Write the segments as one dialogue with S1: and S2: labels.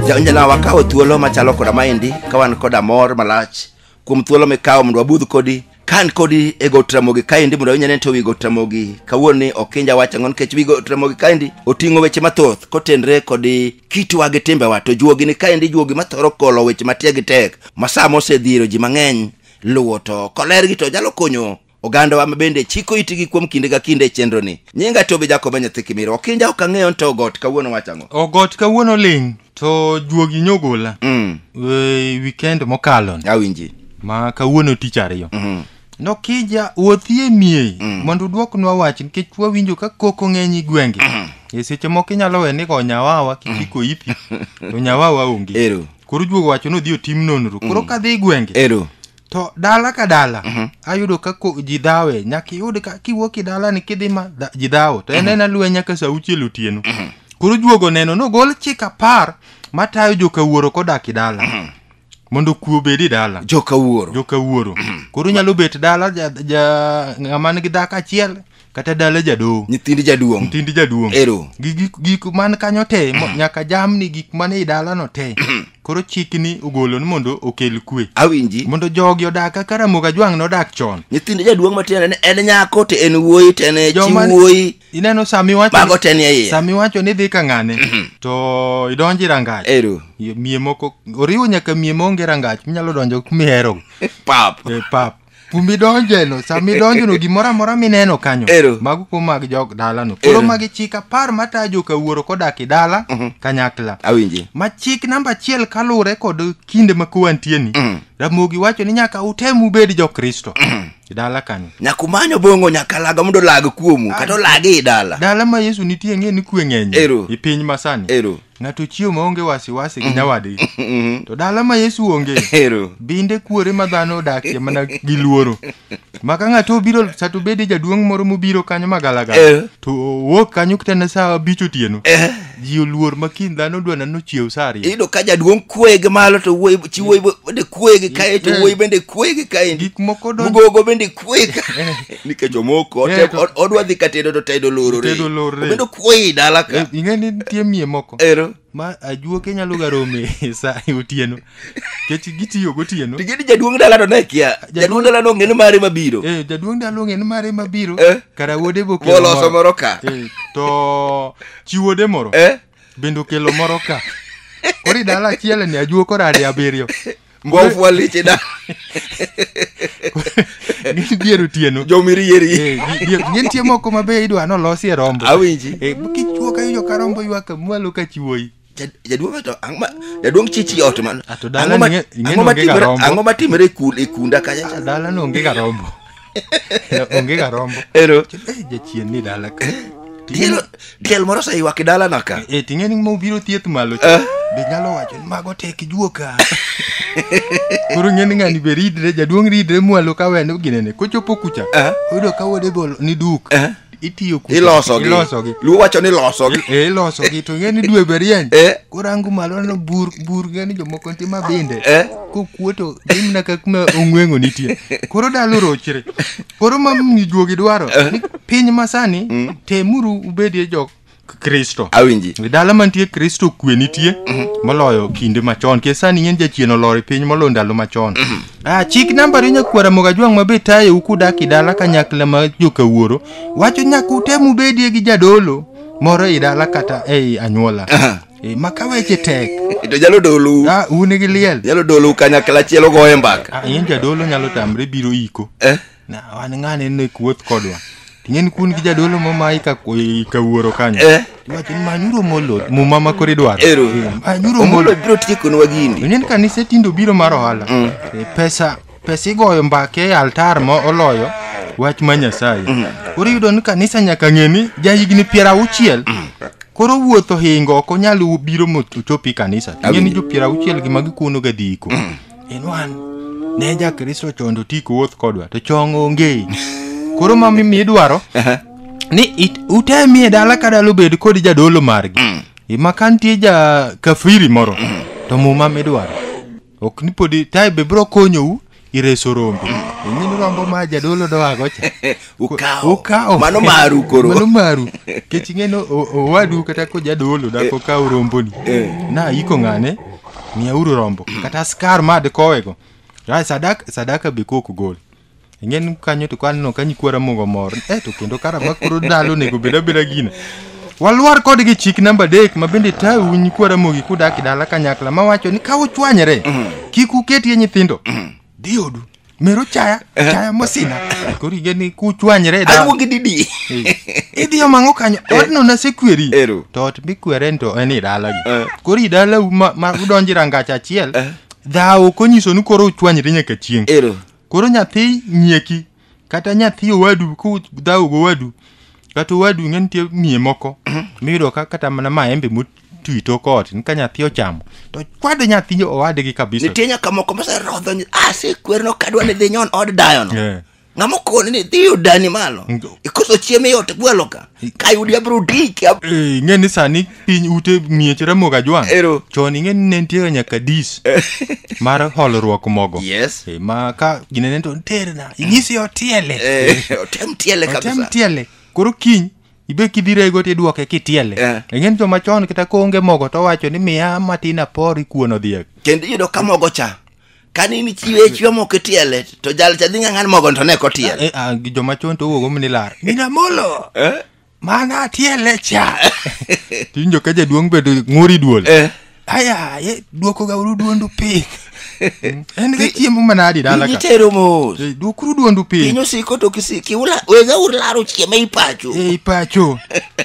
S1: Jaonjana wakawo thuolo machalo koda maendi ka wan koda mor malach kuom thuolo mikawo mondo wabudh kodi ka an kodi e got ramogi kaendi mondo inyane to wi got ramogi kawuono ni ok inja wacho ang'o nikech wi got ramogi kaendi oting'o weche mathoth kotenre kod kitwa gi timbewa to juogi ni kaendi juogi mathoro kolo weche matiegi tek ma sama osedhiro ji mang'eny luwo to kolergi to nyalo konyo Ogandawa ma bende chiko itigi kuom kinde ka kinde e chenroni. Nyinga Tobi Jakoba nyathi Kimiro. Okinja ok ang'eyo nto ogot kawuono wacho ang'o? Ogot kawuono ling'
S2: to juogi nyogola Mm. e, weekend mokalo ni, Awinji. ma
S1: kawuono
S2: tich ariyo Mhm. nokija wuothie miei mondo uduoknwa wach nikech wawinjo ka koko ng'eny i gwenge e seche moko inyalo we ni go nyawawa kichiko ipi to nyawawa onge Ero. koro juogo wacho
S1: ni odhi
S2: otim nonro koro kadhi i gwenge Ero. to
S1: dala ka
S2: dala Mhm. ayudo ka ko- ji dhawe nyaka iyud ka kiwuok i dala ni kidhi ma dha- ji dhawo to en en aluya nyaka sa auchiel otieno koro juogo neno nogol chik apar matayo joka wuoro kodak i dala mondo kuo obed i dala joka wuoro joka wuoro koro nyalo bet dala ja- ja- ng'ama nigi dhako achiel kata dala jadoho nyithind jaduong' nyithind
S1: jaduong' ero gi gik,
S2: gik man kanyo te mo- nyaka jamni gik man ei dalano te koro chikni ogolo ni mondo okel kwe awinji mondo jogi
S1: odag
S2: kaka ramoga jwang' nodak chon nyithind jaduong' matiende
S1: ni en nyako to en wuoyi to en chi Joma- wuoyi ineno sama iwacho
S2: mago te nie iye sama
S1: iwacho ni dhi ka
S2: ng'ane to idonjo e rangach ero mie
S1: moko
S2: oriwo nyaka mie maonge rangach minyalo donjo kumiherogo pap e
S1: pap
S2: kumidonjeno sama idonjono gimoro amora mineno kanyo Ero. mago kuom mag
S1: jog
S2: dalano koro Ero. magi chik apar matayo joka wuoro kodak e dala kanyakla awinji ma chik
S1: namba achiel
S2: kaluwore kod kinde ma kowantieni Mm. ramogi wacho ni nyaka utem ubed jokristo e dala kanyo nyaka umanyo bongo nyaka
S1: laga mondo olag kuomu kata olagi i dala dala ma yesu nitie
S2: ng'e ni kwe ng'eny Ero. i piny masani
S1: ero
S2: Ng'ato chiwo
S1: maonge
S2: wasiwasi gi nyawadgi. To dala ma Yesu onge, Ero. binde
S1: kuore ma
S2: dhano odakie mana gi luoro. Ma ka ng'ato obiro sa to bede jaduong' moro mobiro kanyo ma Eh. galagala. To owuok kanyo kitana sa abich otieno. Ji oluor ma kiny dhano dwana nochiew sa ariyo. Iyudo ka jaduong' kuoye
S1: gi malo to wuoyi chi wuoyi bende kuoye gi kae to Eh. wuoyi bende kuoye gi kae. Gik moko donjo Mugogo
S2: bende kuoyi
S1: ka nikech omoko Eh, otem- to- od- odwa dhi ka tedo to tedo lorore Tedo lorore. obedo kuoyi dala ka ing'e ni nitie mie
S2: moko ero ma
S1: ajuoke
S2: nyalo ga rome e sa e otieno kech gitiyo gotieno to gini jaduong' dala to ne
S1: kia jaduong' dala no ng'eni mare mabiro Eh, jaduong' dalo ng'e ni
S2: mare mabiro Eh. kara wuode be okelo moloso moro ka Eh,
S1: to
S2: chi wuode moro Eh? bende okelo moro ka kori dala achiel ni ajuo kora ade abiriyo mbwa ofwa leche
S1: da
S2: Gin dier otieno. jomirieri Eh, gi-
S1: dier- Gin tie moko
S2: ma be idwa nolosi e rombo. awinji Eh,
S1: kichwo ka ijo
S2: ka rombo ywaka mwalo ka chiwoyi. Jad- jaduong' to
S1: ang' ma- jaduong' chichi ot man A to dala ang'o ma- ning'e- ing'e
S2: ang'o ma nongega timre- rombo.
S1: ang'o ma timre e kul- e kunda kacha cha? Dala no onge ga rombo.
S2: Onge ga rombo. Ero. Eh, Jachien
S1: ni dala
S2: ka. Tielo
S1: tiel moro oseyuak e dalana ka. Eh, ting'e ni ma obiro
S2: thieth malo cha. Be nyalo wacho ni mago tek juoka. Koro ng'e ni ng'ani be ridre, jaduong' ridre mwalo ka wene ginene. Kochopo kucha, oyudo ka wuode golo ni duk. itiyo kucho. ilosogi ilosogi luo
S1: wacho ni losogi Eh, ilosogi to ing'e
S2: ni dwe be rieny Eh. korangu malo no bur bur ng'e ni jomoko nitie ma binde Eh. kokuo to dhi mana ka kuma ong'wengo nitie koro dalo rochre koro ma mijuogi dwaro ni piny masani temuru ubedie jok kristo awinji E dala
S1: mantie kristo
S2: kwe nitie moloyo kinde machon ke sani ng'eny jachien olor e piny moloyo ndalo machon ah, chik namba riyo nyakwara mogajwang' ma be tayou kudak e dala kanyakla ma jokawuoro wacho nyaka utem ubedie gi jadolo moro e dala kata ei anyuola e, ma ka weche tek to nyalo dolu
S1: ah, un gi liel
S2: nyalo dolu kanyakla
S1: achiel ogoye mbaka ah, in jadolo nyalo
S2: tamre biro iko Eh? Na wan ng'ane ne kuoth kodwa. Ting'en kun gi jadolo mo ma ika ika wuoro kanyo. Eh. Wacho ni manyuro molo muma ma kore dwaro. Ero. Eh, Manyuro Omolo molo. biro tiekonwa gini.
S1: Inen kanise tindo
S2: biro mar ohala. Eh, Pesa pesa igoyo mbake e altar ma oloyo wach ma Nyasaye. Koro iyudo ni kanisa nyaka ng'e ni ja higni piero auchiel. Koro wuotho hingo ok onyal biro mochopi kanisa. Ting'e ni jo piero auchiel gi ma gikuono ga dhi iko. in one ne jakristo chondo ti kowuoth kodwa to chong onge koro ma mi- midwaro ni it- utemi e dala ka dala obed kod jadolo margi ma ka nitie ja kafiri moro to muma midwaro ok ni podi tae be biro konyou ireso rombe ing'eni rombo ma jadolo dowago cha Ukawo. ukawo
S1: Mano maru koro. mano maru
S2: kech ing'eno o- owadu kata kojadolo dako kawo romboni na iko ng'ane miyauru rombo kata askar ma dikowego Ra- sadaka, sadaka be kok gol ing'en kanyo to kaneno ka nyikwara mogo mor e to kendo karama koro ndalo onego bed abeda gina walwar kodgi chik namba adek ma bende tau nyikwara mogi kudak e dala kanyakla mawacho ni ka uchwanyre kik uketie nyithindo dhi odu mero chaya chaya mosina koro inge ni kuchwanyre e dala. aluongi didi
S1: idhiyo
S2: mang'o kanyo odno nasekweri Ero. to ot mikweren to en i dalagi Eh. koro i dalau ma ma udonji rangach achiel Eh. dhawo konyiso ni koro uchwanyre nyaka chieng' ero koro nyathi nyieki kata nyathi owadu kudhaw go wadu kata owadu ng'e nitie miye moko miyudo ka kata mana maembe motwi tok ot ni ka nyathi ochamo to kwade nyathi owadgi kabisa nitie nyaka moko moserodho
S1: ni asekwerno kadwa ni dhi nyon od dayono Eh. ng'ama okoni ni dhi odani malo Ngo. ikoso chiemo iot gwelo ka kayudi abro diki ab- Eh, ing'e ni sani
S2: piny ute miech ramoga jwang Ero. chon ing'e ni ne nitiega nyaka dis mar holruok mogo yes Eh, ma ka
S1: ginene
S2: to terna inyisi otiele Eh, otem tiele
S1: otem kabisa tiele koro
S2: kiny ibe kidhirego tidwoke kitiele Eh. ing'e ni joma chon kata koonge mogo to wacho ni miya matin apor ikuono dhiek kendo iyudo ka mogo
S1: cha kane in ichiwe chiwa moko itiele to jal cha dhi ng'ang'an mogo to ne kotiel Eh, ah, gi joma chon to owuogo
S2: ni lar mina molo Eh? mana tiele cha tiwinjo ka jaduong' bedo ng'uri duol Eh. aya ye dwokoga uru duondu piny Mm, en ga chiemo manadi dala Piny ka itero mos Eh,
S1: dwokuru duondu piny
S2: piny osiko to kisi-
S1: kiula- wega ularo chiema ipacho ei pacho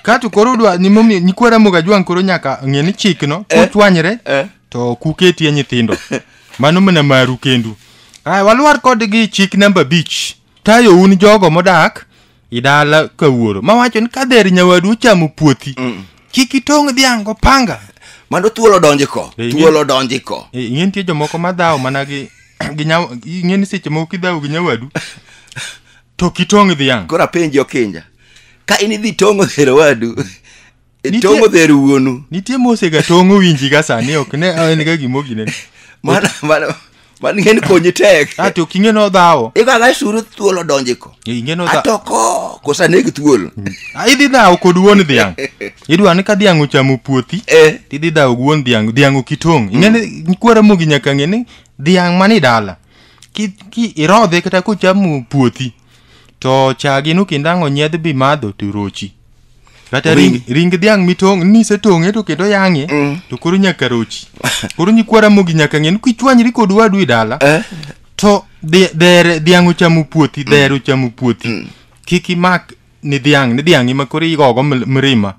S2: kato koro dwa nimomiyo nyikwara moga jwang' koro nyaka ng'e ni chikno kochwanyre Eh. to ok uketie nyithindo mano mana maru kendu Aya, walwar kodgi chik namba abich tayo un jogo modak i dala ka wuoro mawacho ni ka dher nyawadu ochamo puothi kik itong' dhiang' gopanga mano thuol odonji
S1: ko Eh, thuol ing'e- odonji ko Eh, ing'e nitie jomoko
S2: madhawo mana gi gi nyaw- ing'e ni seche moko kidhawo gi nyawadu to kitong' dhiang' koro apenji okinja
S1: ka in idhi tong'o dhero wadu E Nitie- tong'o dher wuonu nitie mosega tong'
S2: owinji ka sani ok ne en ga gimogine mano mano
S1: mano ing'eni konyi tek a to kinge no dhawo
S2: ikwaga suru thuol
S1: odonji ko inge no dhawo atoko
S2: kosa negi
S1: thuol Ah, idhi dhawo
S2: kod wuon dhiang' idwa ni ka dhiang' ochamo puothi Eh. to idhi dhawo gi wuon dhiang' dhiang' ok itong' ing'eni kwara mogi nyaka ng'e ni dhiang' mani dala ki, ki irodhe kata kochamo puothi to chagi no kendo ang' onyiedh bi madho to rochi kata ring, Ring. ring dhiang' mitong' nisetong'e to kendo yang'e Mm. to koro nyaka rochi koro nyikwa ramogi nyaka ng'e ni kichwanyri kod wadu e dala Eh? to dhe- dhere dhiang' ochamo puothi dhere ochamo puothi kik imak ni dhiang' ni dhiang' ima koro igogo ml- mrima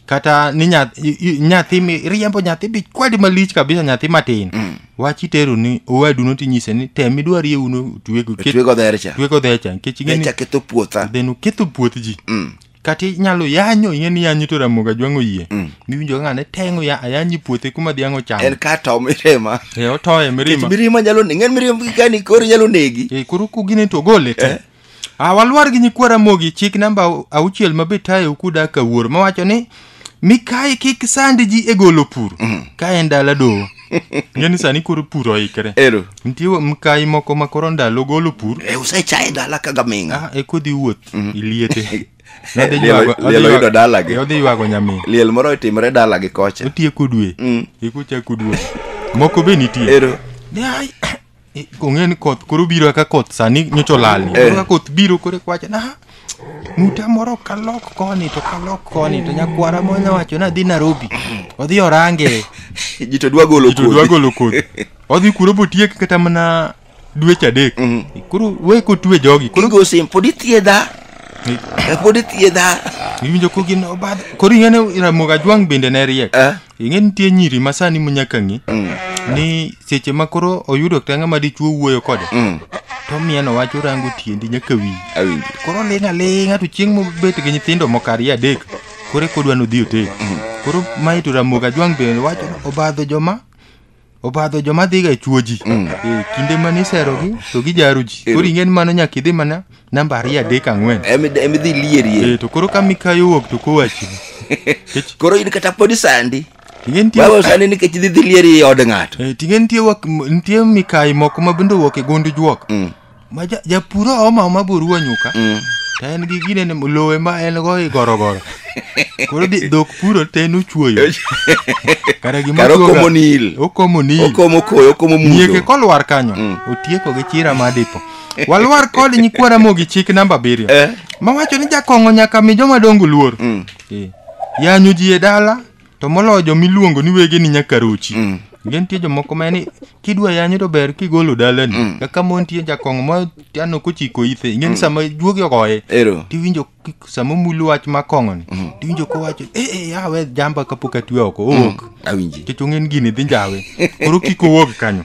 S2: kata ni nyath- i- i- nyathi mi riembo nyathi bi kwadi malich kabisa nyathi matin wach itero ni owadu no tinyise ni tem idwar ye uno twego ket- Twego dher cha.
S1: twego dher cha nikech ing'e ni
S2: Cha ketho puotha. then
S1: uketho puoth
S2: ji Mm. kata inyalo yanyo ing'e ni yanyo to ramoga jwang'o yie miwinjo ka ng'ane teng'o ya ayanyi puothe kuma dhiang' ochamo En ka to mirema.
S1: e otoye Nikech mirima
S2: mirima nyalo negi. Ng'en mirima
S1: gikani koro nyalo negi. e koro kugine to ogole
S2: te Ah, walwar gi nyikwa Ramogi chik namba au- auchiel ma be tayo kuda ka wuor mawacho ni mikayi kik sandi ji e golo pur ka en dala doho ng'e ni sani koro pur oikre Ero. nitie wa- mkayi moko ma koro ndalo golo pur E usechaye dala ka
S1: gaming'a. ah, e kodhi wuoth
S2: iliete Nodhi Liel- ywago- odhi
S1: liel ywago- oyudo dalagi. e, odhi ywago nyamin Liel
S2: moro otimre
S1: dala gi kocha. otieko dwe Mm.
S2: ikuchako dwe moko be nitie Ero. Ai, I- ong'e ni koth koro biro aka koth sani nyocha olali Eh. ka koth biro koro kwacha na muta moro kalok koni to kalok koni to nyakwara mo nyawacho nadhi narobi odhi orange ji to dwa
S1: golo to dwa kodhi. golo kodhi
S2: odhi kuro botiek kata mana dweche adek koro we kotwe jogi koro Kigo sim pod ithiedha
S1: Eh, pod ithiedha
S2: iwinjo ko gin obadho koro ing'e ni ramoga jwang' bende ne riek Eh. ing'e nitie nyiri ma sani munyaka ng'i ni seche ma koro oyudo kata ng'ama dichuo wuoyo kode to mieno wach orango tiendi nyaka wiyi Awinjo. koro ling' aling'a to chieng' mobet gi nyithindo moko ariyo adek koro eka odwa nodhi otel koro mae to ramoga jwang' bende wacho ni obadho joma obadho joma dhiga e chuo ji Eh, kinde mane iserogi to gijaro ji Ero. koro ing'eni mano nyaka idhi mana namba ariyo adek ang'wen Emi- emidhi lierie Eh,
S1: to koro
S2: ka
S1: mikayo
S2: wuok to
S1: kowachi
S2: koro in
S1: kata podi
S2: sandi Ting'e
S1: nitie- wewe sandi nikech idhi dhi lieri i od ng'ato Eh, ting'e nitie wak- m-
S2: nitie mikayi moko ma bende owuok e gund juok ma ja- japur ooma oma boruwa nyuka to en gi gine ni lowe ma en go i gorogoro koro di- dhok puro te en ochuoyo kara gima Kara okomo ochuoga- nil. okomo
S1: nil okomo koyo okomo nyieke mudo kolwar kanyo
S2: Mm. otieko gi chira ma dipo walwar kod nyikwa ramogi chik namba abiriyo Eh. mawacho ni jakong'o nyaka mi joma dongo luor Mm. Eh. yanyo ji e dala to moloyo jo miluongo ni wege ni nyakaruchi mm. nge nitie jomoko ma ni kidwa yanyo to ber kigolo dalani mm. kaka mo nitie jakong' ma ano kochiko ithe inge ni mm. sama juogi ogoye tiwinjo sama mulu wach ma kong'oni mm. tiwinjo kowacho e e yawe jamba kapok atwe oko owok mm. awinji kech ong'en
S1: gini dhi
S2: njawe koro kik owuog kanyo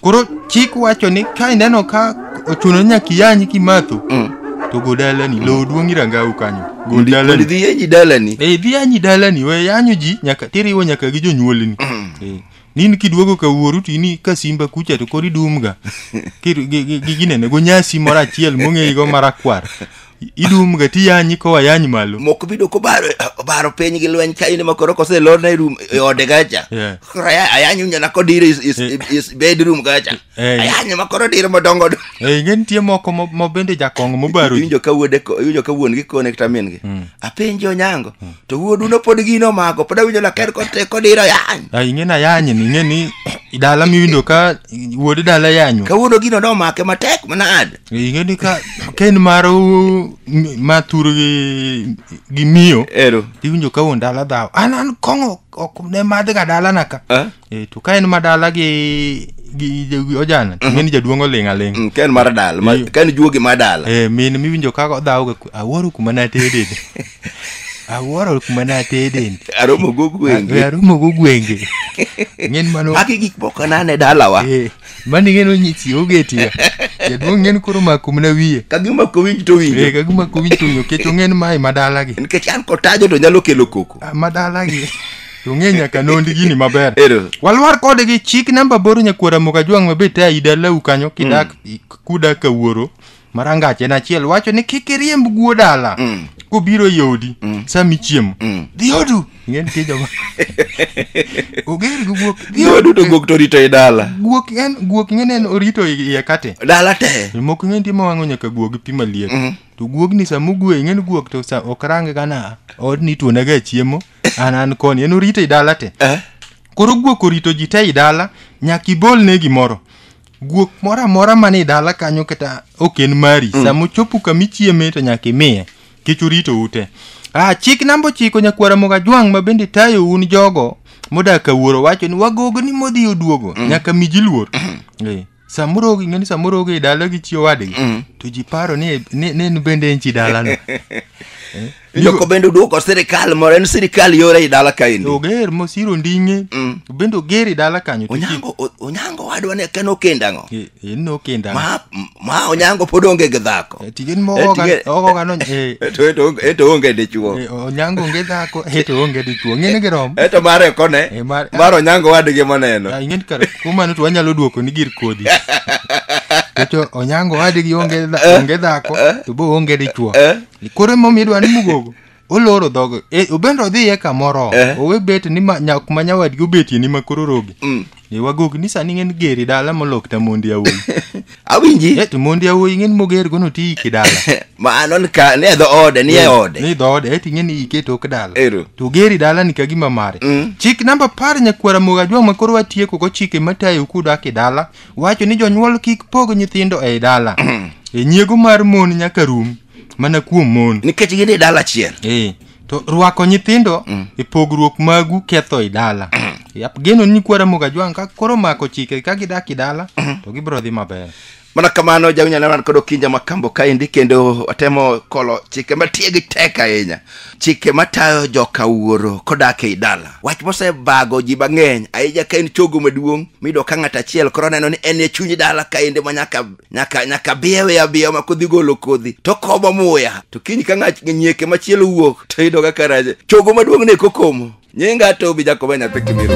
S2: Koro chik wacho ni ka ineno ka ochuno nyaka iyanyi kimatho Mm. to go dalani lowo duong' irangau kanyo go Mondo dalani idhi yenyi dalani.
S1: Eh, idhi yanyi dalani
S2: we yanyo ji nyaka tiriwo nyaka gi jonyuolni Eh, nini kiduogo ka wuoru to ini ka simba kucha to koro idumga Kir- gi- gi- gi- ginene go nyasi moro achiel mong'eyigo marakwar idum ga tiyanyi kowa yany malo moko bido kobaro
S1: obaro piny gi lweny ka in makoro kose lorna e room e ode kacha Yeah. koro aya- ayanyo nyana kodiro is, is, is bedroom kacha Eh. ayanyo makoro diro madongo dongo. Eh, ing'e nitie moko
S2: ma- ma bende jakong' mobaro ji iwinjo ka wuode ko- iwinjo
S1: ka wuon gi kone kata min gi apenji onyango to wuodu no pod gino omako pod awinjo laker kote kodiro yany Ah, ing'e na yanyi ni ing'e
S2: ni dala miwinjo ka wuod dala yanyo kawuono gino nomake
S1: matek manad ing'e ni ka
S2: ka en mar u- m- ma tur gi gi miyo ero tiwinjo ka wuon dala dhaw an an kong'o ok ne madhga dalana ka Eh? Eh, to ka en ma dala gi gi gi ojana ting'e ni jaduong' oling' aling' Mm, ka en mar dala ma- Iyo.
S1: ka en juogi mar dala Eh, min miwinjo ka
S2: odhawga ku- awuoro kuma natede awuoro kuma natede aromo go gwenge
S1: arumo go gwenge
S2: ng'en mano magi gik moko nane
S1: dalawa Eh. mani ng'eno
S2: nyisi oge tiya jaduong' ng'en koro mako mana wiye ka gima ko winj to winjo
S1: eh ka gima ko winj to winjo kech
S2: ong'en mai madalagi nikech an kotajo to nyalo
S1: kelo koko ah, madalagi
S2: to ng'e nyaka nondi gini maber Ero. walwar kode gi chik namba boro nyakwara moka jwang' mabe ta idalau kanyo kidak mm. kuda ka wuoro ma rangach en achiel wacho ni kik iriemb guo dala Mm. kobiro e odi sama ichiemo Mm. dhi odu ing'e nitie joma oger gi guok dhi Yo odu duto guok to rito
S1: i dala. guok en guok ing'e
S2: ni en orito i- iye kate Dala te. moko
S1: ing'e nitie ma wang'o
S2: nyaka guok gi pi maliet Mm. to guogni sama ogwe ing'e ni guok to sa ok range gana odni ituonega chiemo an an koni en orito i dala te Eh? koro guok orito ji te i dala nyaka ibolne gimoro guok moro amora man e dala kanyo kata ok en mari mm. sama ochopo kama ichieme to nyaka imiye kech orito ute ah, chik namba ochiko nyakwara moga jwang' ma bende tayo un jogo modak ka wuoro wacho ni wagogo ni modhi oduogo mm. nyaka mi ji luor mm. eh, samoro ogi ng'eni samoro ogi e dala gi chi owadgi mm. to ji paro ni, ni, ni en bende en chi dalano eh?
S1: Joko bende oduoko sirikal moro en sirikal yore i dala kaendi oger mosiro
S2: nding'e Mm. bende oger i dala kanyo to chi- onyango o- onyango
S1: wadwa ne ken okenda ang'o Eh, eh, nokenda
S2: ma, ma onyango
S1: pod onge gi dhako Eh, tigen Eh, mogoga tigen-
S2: ogoga no eh, Eto- eto onge- eto
S1: onge dichuo eh, onyango onge dhako
S2: eto onge dichuo ng'ene gi rom eto mare kone Eh,
S1: mar- mar onyango wadgi moneno Ah, ing'eni kar kuom mano
S2: to wanyalo duoko ni gir kodhi to onyango wadgi onge dha- onge dhako to bo onge dichuo Eh? Ni Koro emomiyo idwa ni mugogo oloro dhogo e, obende odhiye kamoro Eh. owe bet ni ma- nya- kuma nyawadgi obetie ni ma koro rogi Mm. e, wagogi ni sani ng'en geri dala molok ta mondi awuoyi awinji e,
S1: to mondi awuoyi ng'en
S2: moger gono ti iki dala mano ni ka
S1: ni e dho ode ni e ode ni dhoode e ting'e ni
S2: ike tok dala Ero. to geri dala ni kagima mare Mm. chik namba par nyakwara mogajwa ma koro watieko go chike matayo kudak e dala wacho ni jonyuol kik pog nyithindo ei dala e nyiego mar mon nyaka rum mana kuom mon nikech gin e dala achiel
S1: e to rwako
S2: nyithindo e pogruok magu ketho i dala Yap, geno ni kwara mogajwang ka koro mako chike ka gidak i dala to gibiro dhi maber mana kamano
S1: jawinyanana kod okinja makambo kaendi kendo watemo kolo chike matiegi tek ahinya chike matayo joka wuoro kodak ei dala wach mosebago ji mang'eny ahinya ka en chogo maduong' miyudo ka ng'ato achiel koro neno ni en e chuny dala ka ende ma nyaka nyaka nyaka biyewe abiya ma kodhi golo kodhi to komo muya to kiny ka ng'at nyieke machielo wuok to yudo ka kara chogo maduong' ne kokomo nyinga tobi jakobo e nyathi kibiro